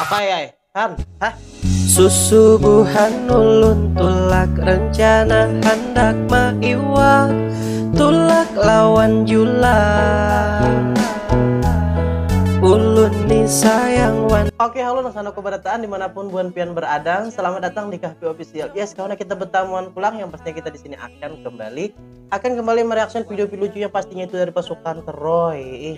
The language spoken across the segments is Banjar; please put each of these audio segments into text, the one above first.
Apa ya? Han, hah? Susubuhan ulun tulak rencana handak maiwak tulak lawan julang ulun ni sayang wan Oke halo nang sana kubarataan dimanapun buan pian beradang selamat datang di Kahpi Official yes kawan kita bertamuan pulang yang pastinya kita di sini akan kembali akan kembali mereaction video-video lucu yang pastinya itu dari pasukan Troy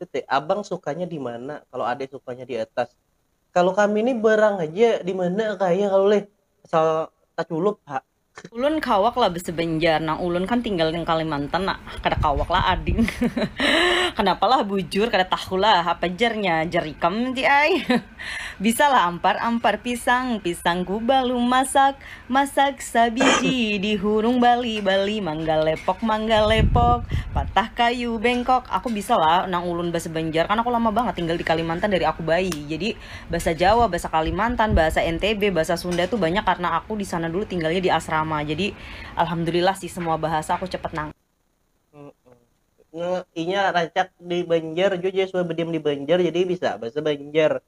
Tete, abang sukanya di mana? Kalau ade sukanya di atas. Kalau kami ni berang haja di mana kaya kalu leh, asal taculup ha. Ulun kawak lah basa banjar nang ulun kan tinggal nang kalimantan nak kada kawak lah ading kenapa lah bujur kada tahu lah apa jar nya jar ikam ti ai bisa lah ampar ampar pisang pisang gubalu masak Masak sabiji di hurung bali bali mangga lepok mangga lepok patah kayu bengkok aku bisa lah nang ulun basa banjar kan aku lama bangat tinggal di kalimantan dari aku bayi jadi basa jawa basa kalimantan basa ntb basa sunda tu banyak karna aku disana dulu tinggalnya di asrama jadi alhamdulillah sih semua bahasa aku cepat nang. Nge inya rancak di banjar jua jadi sudah badiam di banjar jadi bisa basa banjar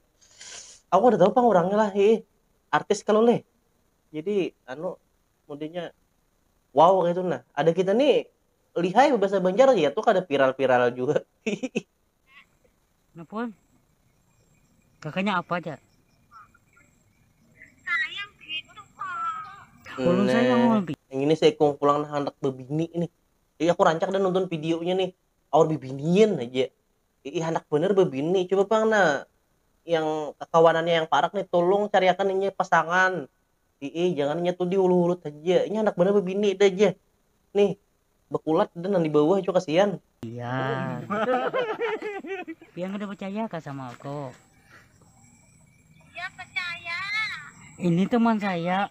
aku kada tahu pang urangnya lah hiih artis kalo leh. Jadi anu mundinya wow gitu nah. Ada kita nih lihai bahasa Banjar ya tuh kada viral-viral juga. Napun. Kakaknya apa aja? Sayang gitu kok. Ulun nah, sayang ulun. Yang ini saya kong pulang nah anak bebini ini. Iya aku rancak dan nonton videonya nih. Awal bibinian aja. Iih handak banar babini coba pang nah yang kakawanannya yang parak nih tulung cariakan inya pasangan iih jangan inya tuh dihulut hulut haja inya handak banar babini dah jah nih bakulat dah nang di bawah jua kasian. Pian. Pian kada pacaya kah sama aku? Iya pacaya. Ini teman saya.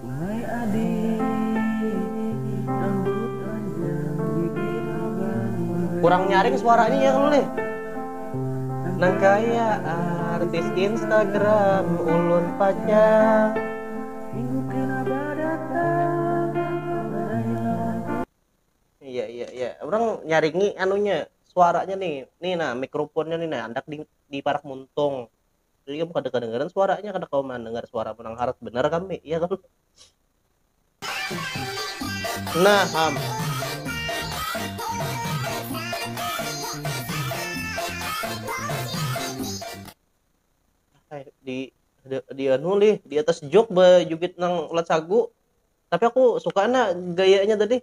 Wahai adik rambut panjang bibir abang manis. Kurang nyaring suaranya ya kalo leh. Nang kaya artis instagram ulun pacang. Minggu kena badatang badai lawan ku. Iya iya iya urang nyaringi anunya suaranya nih nih nah mikrofonnya nih nah andak di parak muntung itu juga kada kedengaran suaranya kada kawa mendengar suara menang harat benar kami ya kan nah ham eh, di di, di anu lih di atas jok bejubit nang ulat sagu tapi aku suka na gayanya tadi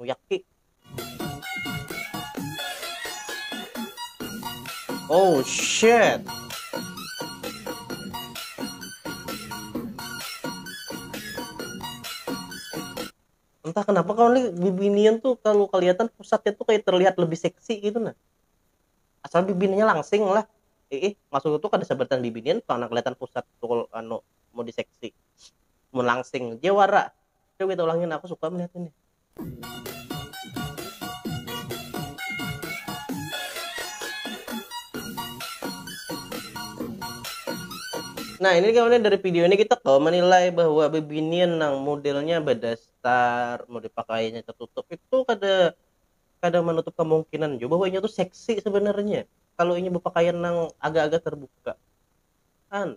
Muyaki. Oh shit. Entah kenapa kalau nih bibinian tuh kalau kelihatan pusatnya tuh kayak terlihat lebih seksi gitu nah. Asal bibininya langsing lah. Eh, eh masuk tuh kada sebertan bibinian karena kelihatan pusat tuh kalau anu mau diseksi. Mau langsing jawara Coba kita ulangin, aku suka melihat ini. Nah ini kemudian dari video ini kita kok menilai bahwa bebinian nang modelnya berdasar model pakaiannya tertutup itu kada kada menutup kemungkinan juga bahwa ini tuh seksi sebenarnya kalau ini berpakaian nang agak-agak terbuka kan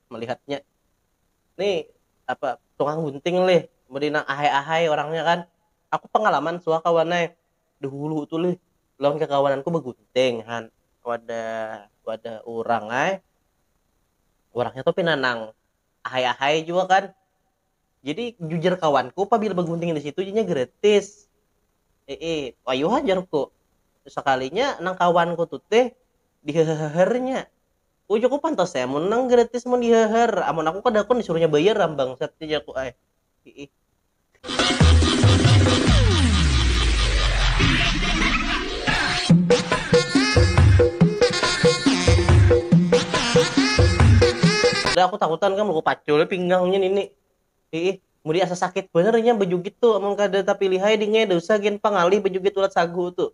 melihatnya nih apa tukang gunting lih mudi nang ahai ahai orangnya kan aku pangalaman suah kawan ai dahulu tu lih lawan kakawananku bagunting han wadah wadah urang ai urangnya tu pina nang ahai ahai jua kan jadi jujar kawanku pabila bagunting disitu inya gratis iih wayuha jarku sakalinya nang kawanku tu teh dihehehernya. Ujuk ku pantas ai amun nang gratis mun dihahar, amun aku kada hakun disuruhnya bayar am bangsat jar ku ai. Hiih. Dah aku takutan kam ku pacul ai pinggangnya nini. Hiih. Mudi asa sakit banar inya bajugit tu amun kada tapilih ai dingai, da usah gin pang ngalih bajugit ulat sagu tu.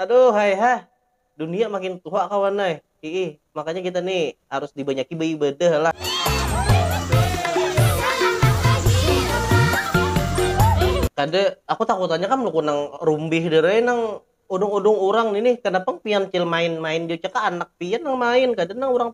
Aduh hai ha. Dunia makin tuha kawan ai. Hiih. Makanya kita ni harus dibanyaki baibadah lah. Kada, aku takutannya kam luku nang rumbih dir ai nang udung-udung urang ni nih. Kada pang pian cil main-main jua cakah anak pian nang main, kada nang urang.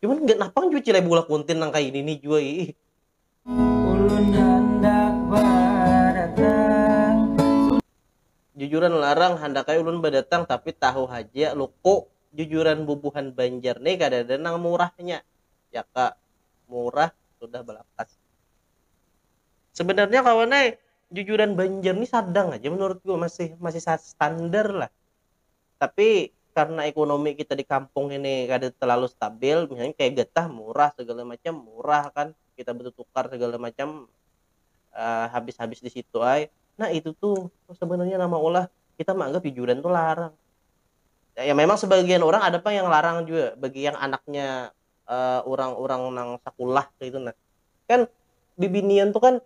Cuman nggak napang jua cilai bola konten nang kayak ini nih jua ih. Ulun handak badatang. Jujuran larang handakai ulun badatang tapi tahu haja loko jujuran bubuhan Banjar nih kadada nang murahnya jaka murah sudah balakas. Sebenarnya kawan ai jujuran Banjar nih sadang haja menurutku masih masih standar lah Tapi karena ekonomi kita di kampung ini kada terlalu stabil, misalnya kaya getah murah segala macam murah kan, kita betutukar segala macam habis habis di situ ai, nah itu tu sebenarnya nang maulah kita meanggap jujuran tu larang, ya memang sebagian orang ada pang yang larang jua bagi yang anaknya urang urang nang sakulah kaitu nah, kan bibinian tu kan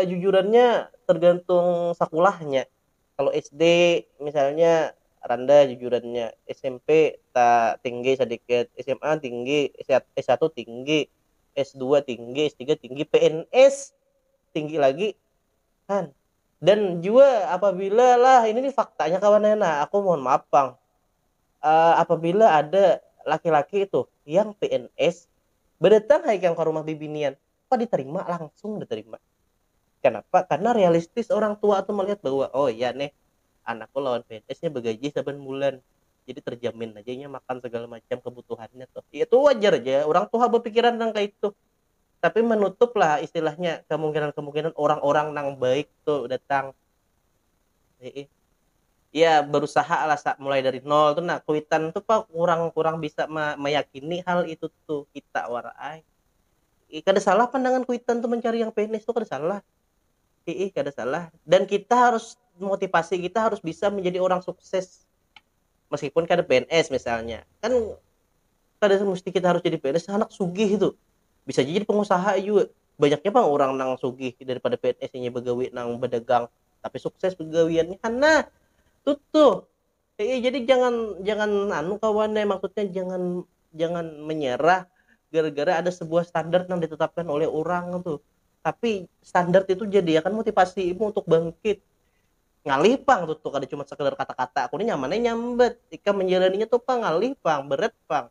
jujurannya tergantung sakulahnya. kalo SD misalnya randah jujurannya smp ta tinggi sadikit sma tinggi s satu tinggi s dua tinggi s tiga tinggi pns tinggi lagi kan dan jua apabila lah ini nih faktanya kawan ya nah aku mohon maaf pang uh, apabila ada laki-laki itu yang pns berdatang hai kang ke rumah bibinian apa diterima langsung diterima kenapa karena realistis orang tua tuh melihat bahwa oh iya nih anakku lawan PNS-nya begaji saban bulan jadi terjamin aja nya makan segala macam kebutuhannya tuh ya itu wajar aja orang tua berpikiran tentang kayak itu tapi menutup lah istilahnya kemungkinan-kemungkinan orang-orang nang baik tuh datang Hei. ya berusaha lah mulai dari nol tuh nah kuitan tuh pak kurang-kurang bisa meyakini hal itu tuh kita warai eh, kada salah pandangan kuitan tuh mencari yang PNS tuh kada salah eh, eh kada salah dan kita harus motivasi kita harus bisa menjadi orang sukses meskipun kada PNS misalnya kan kada mesti kita harus jadi PNS anak sugih itu bisa jadi pengusaha juga banyaknya bang orang nang sugih daripada PNS nya begawi nang berdagang tapi sukses begawiannya karena tuh tuh Iya, jadi jangan jangan anu kawan ya, maksudnya jangan jangan menyerah gara-gara ada sebuah standar yang ditetapkan oleh orang tuh. Tapi standar itu jadi akan motivasimu untuk bangkit. Ngalih pang tuh, tuh kada cuma sekedar kata-kata, aku ini nyamannya nyambat. Ikam menjalaninya tuh pang ngalih pang, berat pang.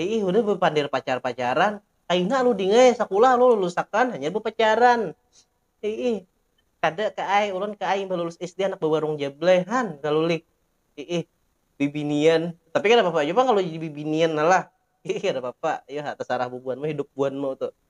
Iih udah bepander pacar-pacaran, kaina lu ding ai, sakulah lu lulusakan hanyar bepacaran. Iih, kada ka ai, ulun ka ai imbah lulus SD anak bewarung jable han kalu lih. Iih, bibinian, tapi kada papa jua pang kalu jadi bibinian nah lah. Iih kada papa, iyo ha tasarah bubuhanmu hidup buhanmu tu.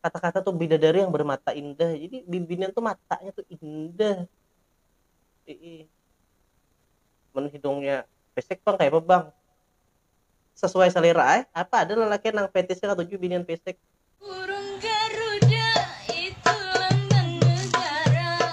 kata-kata tuh bidadari yang bermata indah jadi bibinian tuh matanya tuh indah ii men hidungnya pesek bang kayak apa bang sesuai selera eh apa ada lelaki nang fetishnya katuju binian pesek Burung Garuda itu lambang negara.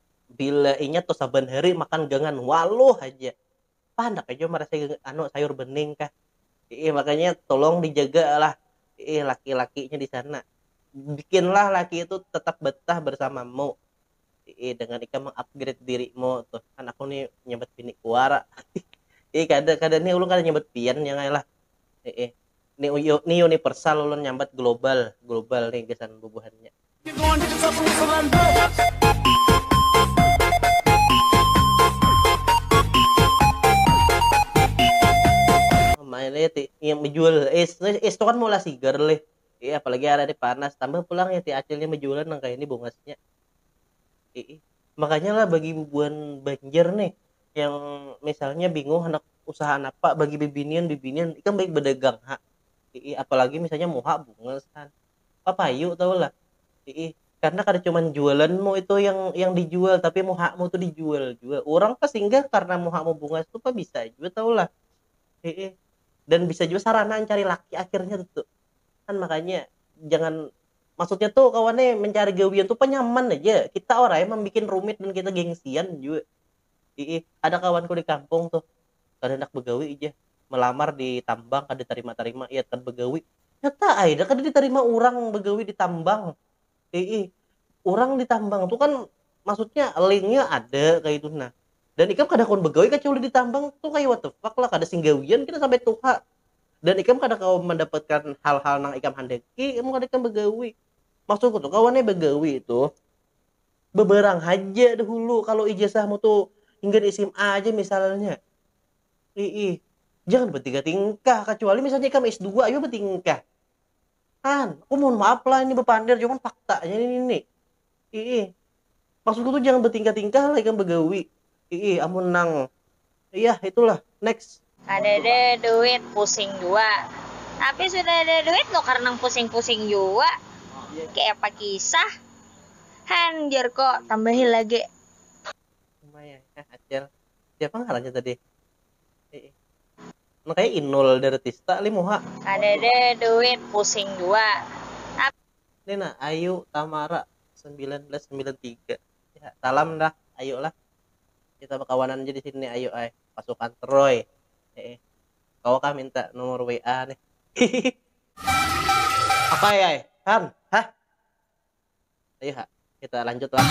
bila inya tuh saban hari makan gangan waluh haja apa handak aja marasa anu sayur bening kah iih makanya tulung dijaga lah iih laki lakinya di sana bikinlah laki itu tetap betah bersamamu iih dengan ikam meng upgrade dirimu tuh kan aku nih nyambat bini ku wara iih kada kada nih ulun kada nyambat pian nya ngailah iih. Ni uyu ni universal ulun nyambat global global ni gasan bubuhannya. Mailih ti yang bejual es es tu kan maulah sigar lih. Iya apalagi hari panas tambah pulang ya ti acilnya bejualan nang kaya ini bungasnya. Iih, makanya lah bagi bubuhan Banjar nih yang misalnya bingung handak usaha napa bagi bibinian bibinian ikam baik badagang ha iih apalagi misalnya muha bungas kan papayu tahu lah iih karena kada cuman jualanmu itu yang yang dijual tapi muhamu tu dijual jua urang pas singgah karena muhamu bungas tu pa bisa jua tahu lah iih dan bisa jua sarana ancari laki akhirnya tuh kan makanya jangan maksudnya tuh kawan nih mencari gawian tuh penyaman aja kita orang yang membuat rumit dan kita gengsian juga Ii, ada kawanku di kampung tuh kada hendak begawi aja melamar di tambang kada terima terima iya kada begawi nyata ai dah kada diterima urang begawi di tambang Ii, urang di tambang tuh kan maksudnya linknya ada kayak itu nah dan ikam kada kawan begawi kecuali di tambang tuh kayak what the fuck lah kada sing gawian kita sampai tuha dan ikam kada kawa mandapatkan hal-hal nang ikam handaki amun kada ikam bagawi maksudku tu kawan nih bagawi tu bebarang haja dahulu kalo ijazahmu tu hinggan sma aja misalnya iih jangan batingkah-tingkah kacuali misalnya ikam S dua jua batingkah kan aku mohon maaf lah ini bapander cuman faktanya ini nih. Iih. Maksudku tuh jangan bertingkah-tingkah lah ikam begawi. Iih, amun nang. Iyah, itu lah. Next. Kadada duit, pusing jua. Tapi sudah ada duit nukar nang pusing-pusing jua. Kayapa kisah. Han, jarko, tambahi lage. Lumayan nah, Acil. Siapa ngarannya tadi? Iih. Nang kaya Inul Daratista lih muha. Kadada duit, pusing jua. Tapi. ini nah Ayu Tamara 1993 ya salam dah Ayu lah kita berkawanan aja di sini Ayu ay pasukan Troy eh, kau kah minta nomor WA nih apa ya ay kan hah ayo ha kita lanjut lah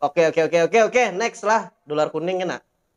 oke oke oke oke oke next lah dolar kuning kena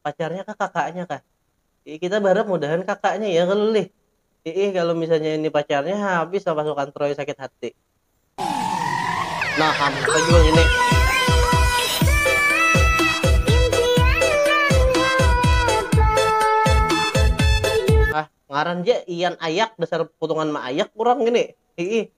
Pacarnya kah kakaknya kah. Iih kita baharap mudahan kakaknya ya kalo lih. Iih kalo misalnya ini pacarnya habis lah pasukan troy sakit hati. Nah hampa jua ngini. Ngaran ja ian ayak dasar putungan ma ayak urang ngini iih.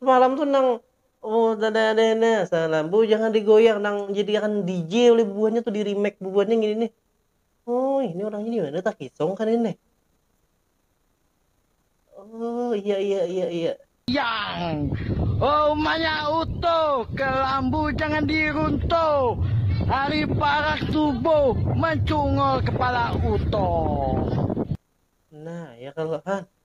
Semalam tu nang salam bu jangan digoyang nang jadiakan DJ oleh bubuhannya tu di remake bubuhannya ngini nih oh ini orangnya dimana takisong kah nih oh iya iya iya iya. Yang. Oh umanya utuh kelambu jangan diruntuh ari parak tubuh mancungul kepala utuh. Nah ya kalo han